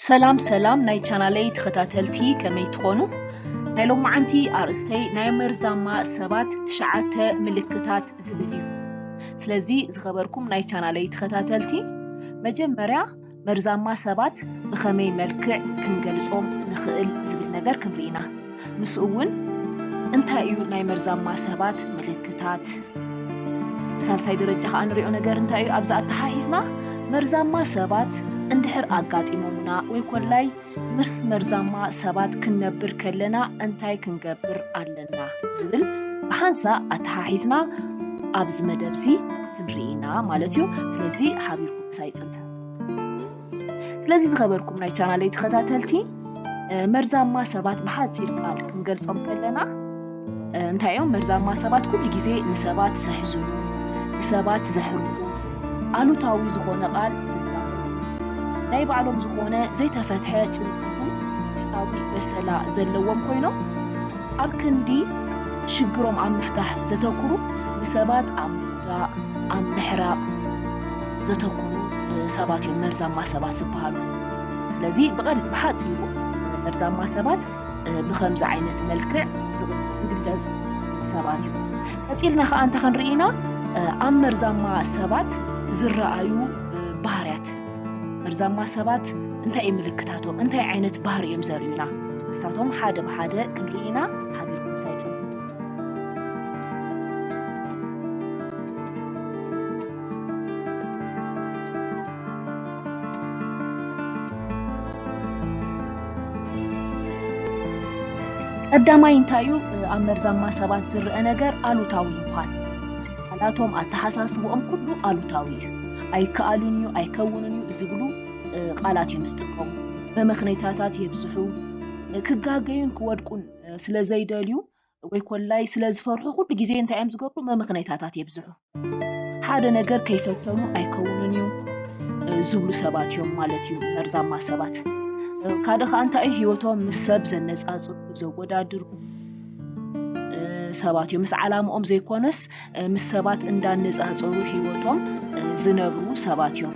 ሰላም ሰላም ናይ ቻናለይ ተኸታተልቲ ከመይ ትኾኑ? ናይ ሎማዓንቲ ኣርእስተይ ናይ መርዛማ ሰባት ትሽዓተ ምልክታት ዝብል እዩ። ስለዚ ዝኸበርኩም ናይ ቻናለይ ተኸታተልቲ መጀመርያ መርዛማ ሰባት ብኸመይ መልክዕ ክንገልጾም ንኽእል ዝብል ነገር ክንርኢ ኢና። ምስኡ እውን እንታይ እዩ ናይ መርዛማ ሰባት ምልክታት? ብሳልሳይ ደረጃ ከኣ ንሪኦ ነገር እንታይ እዩ? ኣብዚ ኣተሓሒዝና መርዛማ ሰባት እንድሕር ኣጋጢሞምና ወይ ኮላይ ምስ መርዛማ ሰባት ክንነብር ከለና እንታይ ክንገብር ኣለና ዝብል ብሓንሳእ ኣተሓሒዝና ኣብዚ መደብ እዚ ክንርኢ ኢና ማለት እዩ። ስለዚ ሓቢርኩም ምሳይ ጽንሑ። ስለዚ ዝኸበርኩም ናይ ቻናለይ ተኸታተልቲ መርዛማ ሰባት ብሓፂር ቃል ክንገልፆም ከለና እንታይ እዮም መርዛማ ሰባት ኩሉ ግዜ ንሰባት ዘሕዝኑ ንሰባት ዘሕርቁ ኣሉታዊ ዝኾነ ቃል ዝዛሩ ናይ ባዕሎም ዝኾነ ዘይተፈትሐ ጭንቀትን ውሽጣዊ በሰላ ዘለዎም ኮይኖም ኣብ ክንዲ ሽግሮም ኣብ ምፍታሕ ዘተኩሩ ንሰባት ኣብ ምውዳእ ኣብ ምሕራቕ ዘተኩሩ ሰባት እዮም መርዛማ ሰባት ዝበሃሉ። ስለዚ ብሓፂሩ መርዛማ ሰባት ብከምዚ ዓይነት መልክዕ ዝግለፁ ሰባት እዮም። ቀፂልና ከዓ እንታይ ክንርኢ ኢና? ኣብ መርዛማ ሰባት ዝረኣዩ ባህርያት መርዛማ ሰባት እንታይ እዩ ምልክታቶም? እንታይ ዓይነት ባህሪ እዮም ዘርእዩና? ንሳቶም ሓደ ብሓደ ክንርኢ ኢና። ሓቢርኩም ሳይፅም ቀዳማይ እንታይ እዩ ኣብ መርዛማ ሰባት ዝርአ ነገር ኣሉታዊ ምዃን ቃላቶም ኣተሓሳስብኦም ኩሉ ኣሉታዊ እዩ ኣይከኣሉን እዩ ኣይከውንን እዩ ዝብሉ ቃላት እዮም ዝጥቀሙ መመኽነይታታት የብዝሑ ክጋገዩን ክወድቁን ስለ ዘይደልዩ ወይ ኮላይ ስለ ዝፈርሑ ኩሉ ግዜ እንታይ እዮም ዝገብሩ መምኽነይታታት የብዝሑ ሓደ ነገር ከይፈተኑ ኣይከውንን እዩ ዝብሉ ሰባት እዮም ማለት እዩ መርዛማ ሰባት ካደ ከዓ እንታይ እዩ ሂወቶም ምስ ሰብ ዘነፃፅሩ ዘወዳድሩ ሰባት እዮም ምስ ዓላምኦም ዘይኮነስ ምስ ሰባት እንዳነፃፀሩ ህይወቶም ዝነብሩ ሰባት እዮም።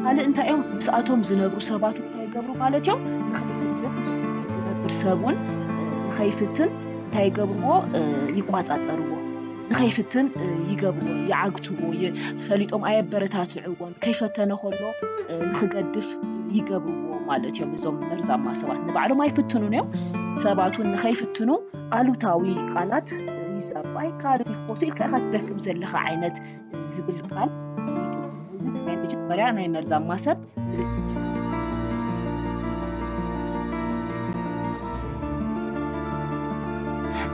ካልእ እንታይ እዮም ምስኣቶም ዝነብሩ ሰባት እንታይ ይገብሩ ማለት እዮም ንኸይፍትን ዝነብር ሰብ እውን ንኸይፍትን እንታይ ይገብርዎ ይቋፃፀርዎ ንኸይፍትን ይገብርዎ ይዓግትዎ ፈሊጦም ኣየበረታትዕዎን ከይፈተነ ከሎ ንኽገድፍ ይገብርዎ ማለት እዮም እዞም መርዛማ ሰባት ንባዕሎም ኣይፍትኑን እዮም ሰባት እውን ንኸይፍትኑ ኣሉታዊ ቃላት ሪዝ ኣባይ ካብ ፎሲ ኢልካ ኢኻ ትደክም ዘለኻ ዓይነት ዝብል ቃል እዚ እቲ ናይ መጀመርያ ናይ መርዛማ ሰብ ምልክት እዩ።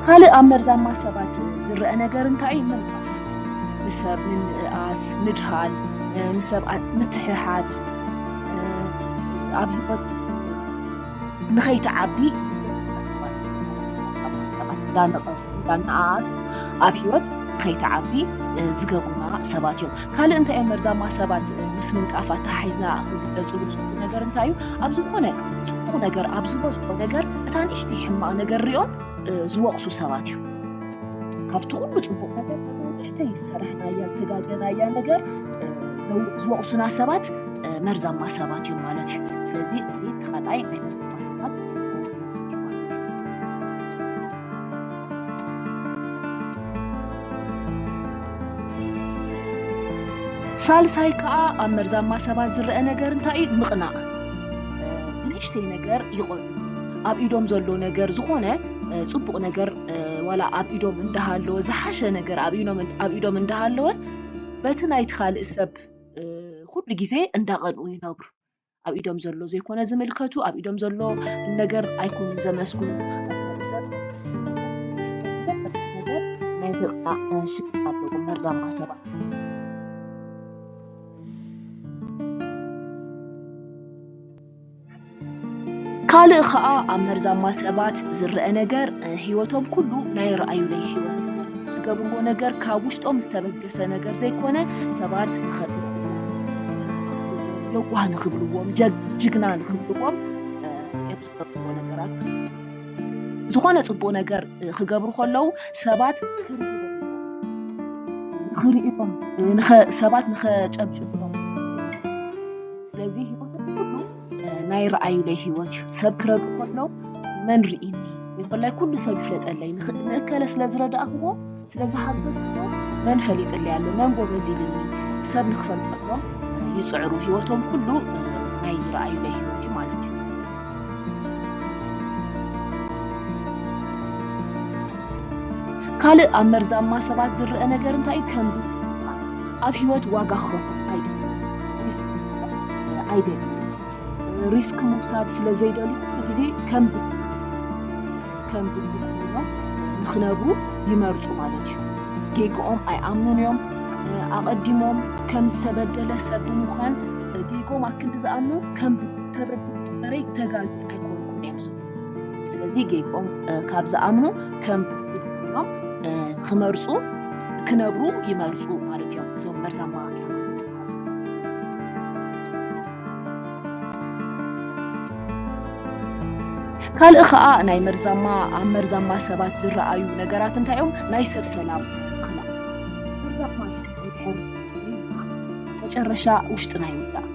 ካልእ ኣብ መርዛማ ሰባት ዝረአ ነገር እንታይ እዩ? ምንቃፍ፣ ንሰብ ምንእኣስ፣ ምድሃል፣ ንሰብ ምትሕሓት ኣብ ሂወት ንኸይትዓቢ ሓሳባት ካብ ሓሳባት እንዳነቐፉ እንዳነኣኣሱ ኣብ ሂወት ከይትዓቢ ዝገብሩና ሰባት እዮም ካልእ እንታይ እዮም መርዛማ ሰባት ምስ ምንቃፍ ኣተሓሒዝና ክግለፅሉ ዝኽእሉ ነገር እንታይ እዩ ኣብ ዝኾነ ፅቡቕ ነገር ኣብ ዝበዝሖ ነገር እታ ንእሽተይ ሕማቕ ነገር ሪኦም ዝወቕሱ ሰባት እዮም ካብቲ ኩሉ ፅቡቅ ነገር ንእሽተይ ዝሰራሕናያ ዝተጋገናያ ነገር ዝወቅሱና ሰባት መርዛማ ሰባት እዮም ማለት እዩ ስለዚ እዚ ተኸላይ ናይ መርዛማ ሰባት ሳልሳይ ከዓ ኣብ መርዛማ ሰባት ዝረአ ነገር እንታይ እዩ ምቕናእ ብንእሽተይ ነገር ይቆሉ ኣብ ኢዶም ዘሎ ነገር ዝኾነ ፅቡቅ ነገር ዋላ ኣብ ኢዶም እንዳሃለወ ዝሓሸ ነገር ኣብ ኢዶም እንዳሃለወ በቲ ናይቲ ካልእ ሰብ ኩሉ ግዜ እንዳቐንኡ ይነብሩ። ኣብ ኢዶም ዘሎ ዘይኮነ ዝምልከቱ ኣብ ኢዶም ዘሎ ነገር ኣይኮኑ ዘመስግኑ ሰብ ነገር ናይ ብቕዓ ሽግር ኣለዎም መርዛማ ሰባት ካልእ ኸኣ ኣብ መርዛማ ሰባት ዝረኣ ነገር ህይወቶም ኩሉ ናይ ረኣዩለይ ህይወት እዩ። ዝገብርዎ ነገር ካብ ውሽጦም ዝተበገሰ ነገር ዘይኮነ ሰባት ንኸድንቕዎም፣ ለዋህ ንኽብልዎም፣ ጅግና ንኽብልዎም እዮም ዝገብርዎ ነገራት። ዝኾነ ጽቡቕ ነገር ክገብሩ ከለዉ ሰባት ንኽርእይዎም፣ ሰባት ንኸጨብጭብሎም፣ ስለዚ ህይወት ኩሉ ናይ ረኣዩለይ ህይወት እዩ ሰብ ክረዱ ከለው መን ርኢኒ ይኮላይ ኩሉ ሰብ ይፍለጠለይ ንእከለ ስለ ዝረዳእኽዎ ስለ ዝሓገዝክዎ መን ፈሊጥለይ ኣሎ መን ጎበዝ ይብልኒ ሰብ ንክፈልጠሎም ይፅዕሩ ህይወቶም ኩሉ ናይ ረኣዩለይ ህይወት እዩ ማለት እዩ ካልእ ኣብ መርዛማ ሰባት ዝረአ ነገር እንታይ እዩ ከንዱ ኣብ ሂወት ዋጋ ክኸፍል ኣይደልን ሪስክ ምውሳድ ስለ ዘይደልዩ ኩሉ ግዜ ከም ከም ድሉ ኮይኖም ንኽነብሩ ይመርጹ ማለት እዩ። ጌግኦም ኣይኣምኑን እዮም። ኣቐዲሞም ከም ዝተበደለ ሰብ ብምዃን ጌግኦም ኣክንዲ ዝኣምኑ ከም ተበድለ በረይ ተጋጊ ኣይኮንኩን እዮም ዝብሉ። ስለዚ ጌግኦም ካብ ዝኣምኑ ከም ሎም ክመርፁ ክነብሩ ይመርፁ ማለት እዮም እዞም መርዛማ ሰባት ካልእ ከዓ ናይ መርዛማ ኣብ መርዛማ ሰባት ዝረኣዩ ነገራት እንታይ እዮም? ናይ ሰብ ሰላም ክላ መርዛማ ሰብ ይድሕር መጨረሻ ውሽጥና ይውዳእ።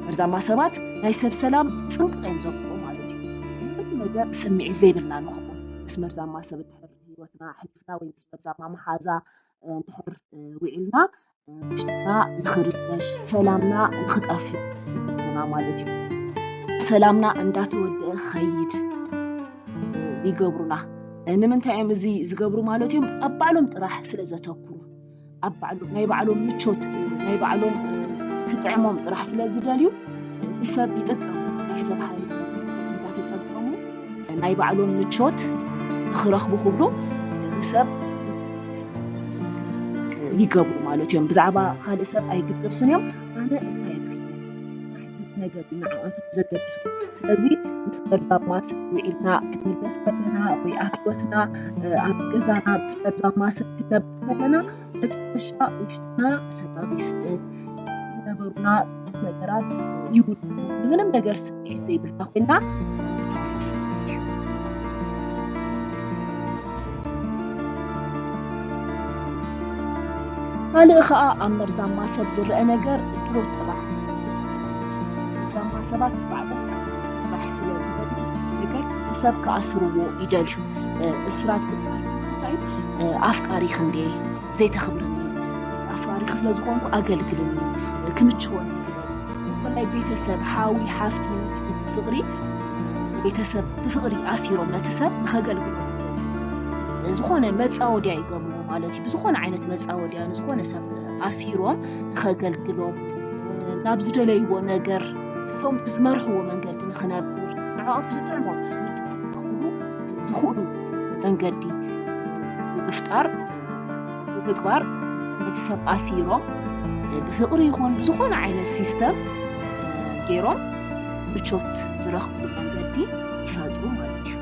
መርዛማ ሰባት ናይ ሰብ ሰላም ፅንቅቕ እዮም ዘብቁ ማለት ነገር ስምዒት ዘይብልና ንኸውን ምስ መርዛማ ሰብ እንድሕር ሂወትና ኣሕሊፍና ወይ ምስ መርዛማ መሓዛ እንድሕር ውዒልና ውሽጥና ንኽርበሽ ሰላምና ንኽጠፍእ ይገብሩና ማለት እዩ ሰላምና እንዳተወድአ ኸይድ ይገብሩና ንምንታይ እዮም እዚ ዝገብሩ ማለት እዮም ኣብ ባዕሎም ጥራሕ ስለ ዘተኩሩ ኣብ ባዕሉ ናይ ባዕሎም ምቾት ናይ ባዕሎም ክጥዕሞም ጥራሕ ስለ ዝደልዩ ብሰብ ይጥቀሙ ናይ ሰብ ሃይል እንዳተጠቀሙ ናይ ባዕሎም ምቾት ንክረኽቡ ክብሉ ንሰብ ይገብሩ ማለት እዮም ብዛዕባ ካልእ ሰብ ኣይግደሱን እዮም ኣነ እንታይ ናሕትት ነገር ንዓኣቶም ዘገድሱ ስለዚ ምስ መርዛብ ማስ ውዒልና ክንምለስ ከለና ወይ ኣብ ህይወትና ኣብ ገዛና ምስ መርዛብ ማስ ክነብ ከለና መጨረሻ ውሽጥና ሰላም ይስእን ዝነበሩና ነገራት ይውድኡ ንምንም ነገር ስምዒት ዘይብልና ኮይና ካልእ ከዓ ኣብ መርዛማ ሰብ ዝረአ ነገር ድሮ ጥራሕ መርዛማ ሰባት ባዕሎም ጥራሕ ስለ ዝደሊ ነገር ንሰብ ክኣስርዎ ይደልዩ እስራት ክበሃል ኣፍቃሪኽ እንድየ ዘይተኽብርኒ ኣፍቃሪኽ ስለ ዝኾንኩ ኣገልግልኒ ክምችወኒ ብፍላይ ቤተሰብ ሓዊ ሓፍቲ ዝመስሉ ፍቅሪ ቤተሰብ ብፍቅሪ ኣሲሮም ነቲ ሰብ ንኸገልግሉ ዝኾነ መፃወድያ ይገብሩ ማለት እዩ ብዝኾነ ዓይነት መፃወድያ ንዝኾነ ሰብ ኣሲሮም ንኸገልግሎም ናብ ዝደለይዎ ነገር እሶም ብዝመርሕዎ መንገዲ ንኽነብር ንዕኦም ብዝጥዕሞም ዝኽእሉ መንገዲ ብምፍጣር ብምግባር ነቲ ሰብ ኣሲሮም ብፍቕሪ ይኹን ብዝኾነ ዓይነት ሲስተም ገይሮም ምቾት ዝረኽብሉ መንገዲ ይፈጥሩ ማለት እዩ።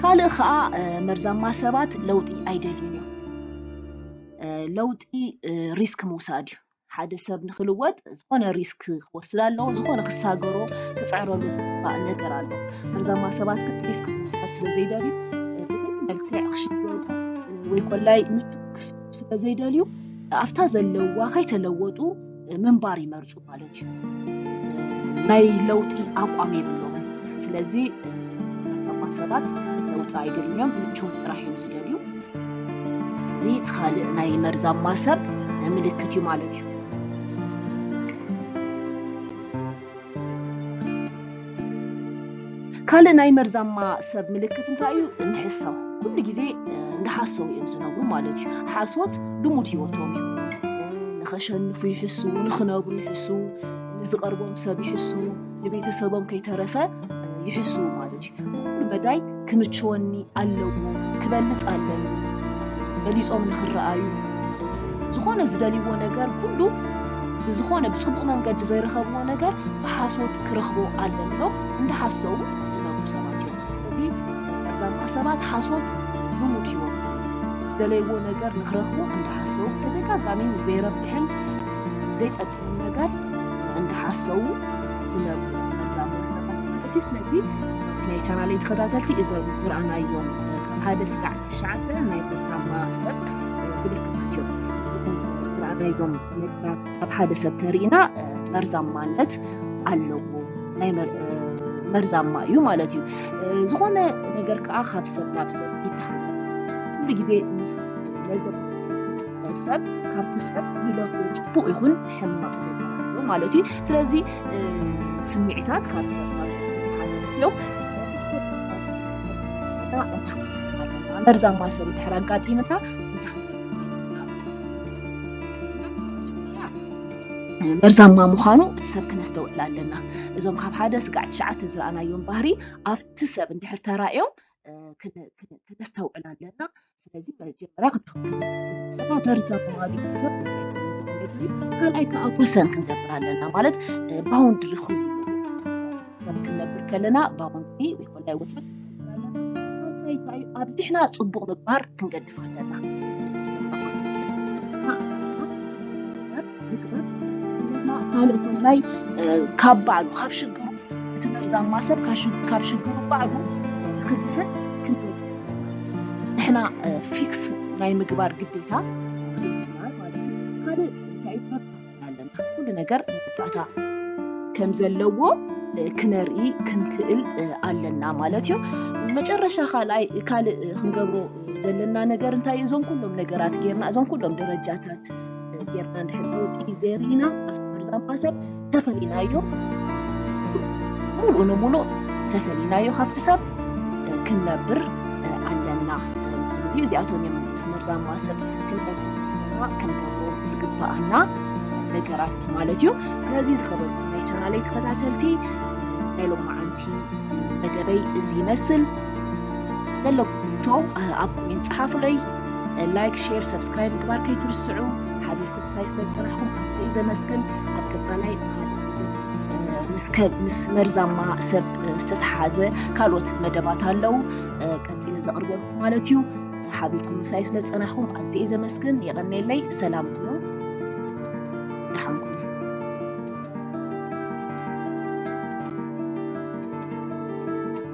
ካልእ ከዓ መርዛማ ሰባት ለውጢ ኣይደልዩን እዮም። ለውጢ ሪስክ ምውሳድ እዩ። ሓደ ሰብ ንክልወጥ ዝኾነ ሪስክ ክወስድ ኣለዎ፣ ዝኾነ ክሳገሮ ክፅዕረሉ ዝግባእ ነገር ኣሎ። መርዛማ ሰባት ግን ሪስክ ክወስድ ስለዘይደልዩ ብምን መልክዕ ክሽገሩ ወይ ኮላይ ምቹ ስለዘይደልዩ ኣብታ ዘለዋ ከይተለወጡ ምንባር ይመርፁ ማለት እዩ። ናይ ለውጢ ኣቋም የብሎምን። ስለዚ መርዛማ ሰባት ለውጢ ኣይደልዮም ምቾት ጥራሕ እዮም ዝደልዩ። እዚ እቲ ካልእ ናይ መርዛማ ሰብ ምልክት እዩ ማለት እዩ። ካልእ ናይ መርዛማ ሰብ ምልክት እንታይ እዩ? ምሕሳው ኩሉ ግዜ እንዳሓሰው እዮም ዝነብሩ ማለት እዩ። ሓሶት ልሙድ ሂወቶም እዩ። ንኸሸንፉ ይሕሱ፣ ንኽነብሩ ይሕሱ፣ ንዝቐርቦም ሰብ ይሕሱ፣ ንቤተሰቦም ከይተረፈ ይሕሱ ማለት እዩ። ኩሉ መዳይ ክምችወኒ ኣለዎ፣ ክበልጽ ኣለኒ፣ በሊጾም ንኽረኣዩ፣ ዝኾነ ዝደልይዎ ነገር ኩሉ ብዝኾነ ብጽቡቕ መንገዲ ዘይረኸብዎ ነገር ብሓሶት ክረኽቦ ኣለኒ ኢሎም እንዳሓሰቡ ዝነብሩ ሰባት እዮም። ስለዚ መርዛማ ሰባት ሓሶት ልሙድ ህይወት ዝደለይዎ ነገር ንኽረኽቡ እንዳሓሰቡ ብተደጋጋሚ ዘይረብሕን ዘይጠቅምን ዝብሉ ነገር እንዳሓሰዉ ዝነብሩ መርዛም ወሰከት ማለት እዩ ስለዚ ናይ ቻናለይ ተኸታተልቲ እዘም ዝረኣናዮም ካብ ሓደ ስጋዕ ትሽዓተ ናይ መርዛማ ሰብ ምልክታት እዮም እዚኹም ዝረኣናዮም ነገራት ኣብ ሓደ ሰብ ተሪእና መርዛማነት ኣለዎ ናይ መርዛማ እዩ ማለት እዩ ዝኾነ ነገር ከዓ ካብ ሰብ ናብ ሰብ ይተሓላለፍ ኩሉ ግዜ ምስ ለዘብቱ ናይ ሰብ ካብቲ ሰብ ይለፉ ፅቡቅ ይኹን ሕማቅ ይበሃል ማለት እዩ ስለዚ ስምዒታት ካብ ሰብ ናብ ሰብ ይተሓላለፉ እዮም መርዛማ ሰብ እንድሕር ኣጋጢምና መርዛማ ምዃኑ እቲ ሰብ ክነስተውዕል ኣለና እዞም ካብ ሓደ ስጋዕ ትሽዓተ ዝረኣናዮም ባህሪ ኣብቲ ሰብ እንድሕር ተራእዮም ክነስተውዕል ኣለና ስለዚ መጀመርያ ክንሓ መርዛ ተዋዲ ሰብ ካልኣይ ከዓ ወሰን ክንገብር ኣለና ማለት ባውንድሪ ክ ሰብ ክንነብር ከለና ባውንድሪ ወይኮነ ወሰን ሳልሳይ ከዩ ኣብዚሕና ፅቡቅ ምግባር ክንገድፍ ኣለና ካብ ባዕሉ ካብ ሽግሩ እቲ መርዛማ ሰብ ካብ ሽግሩ ባዕሉ ክድሕን ክንደይ ንሕና ፊክስ ናይ ምግባር ግዴታ ማለት እዩ ካልእ እንታይ ኣለና ኩሉ ነገር መወዳእታ ከም ዘለዎ ክነርኢ ክንክእል ኣለና ማለት እዩ መጨረሻ ካልኣይ ካልእ ክንገብሮ ዘለና ነገር እንታይ እዞም ኩሎም ነገራት ጌርና እዞም ኩሎም ደረጃታት ጌርና እንድሕር ለውጢ ዘይርኢና ኣብቲ መርዛም ማሰ ተፈሊናዮ ሙሉእ ንሙሉእ ተፈሊናዮ ካብቲ ሰብ ክንነብር ኣለና ዝብል እዩ እዚኣቶም እዮም ምስ መርዛም ማሰብ ክንነብርና ክንገብሮ ዝግባኣና ነገራት ማለት እዩ ስለዚ ዝኸበርኩም ናይ ቻናለይ ተኸታተልቲ ናይ ሎማዓንቲ መደበይ እዚ ይመስል ዘለኩም ሕቶ ኣብ ኮሜንት ፀሓፉለይ ላይክ ሼር ሰብስክራይብ ምግባር ከይትርስዑ ሓቢርኩም ክሳይ ስለ ዝፀናሕኩም ኣዝየ እዩ ዘመስግን ኣብ ቀፃላይ ብካልእ ምስ መርዛማ ሰብ ዝተተሓዘ ካልኦት መደባት ኣለው ቀፂለ ዘቕርበልኩም ማለት እዩ ሓቢርኩም ምሳይ ስለ ዝፀናሕኩም ኣዝየ እዩ ዘመስግን የቐኔለይ ሰላም ኩኑ ደሓንኩም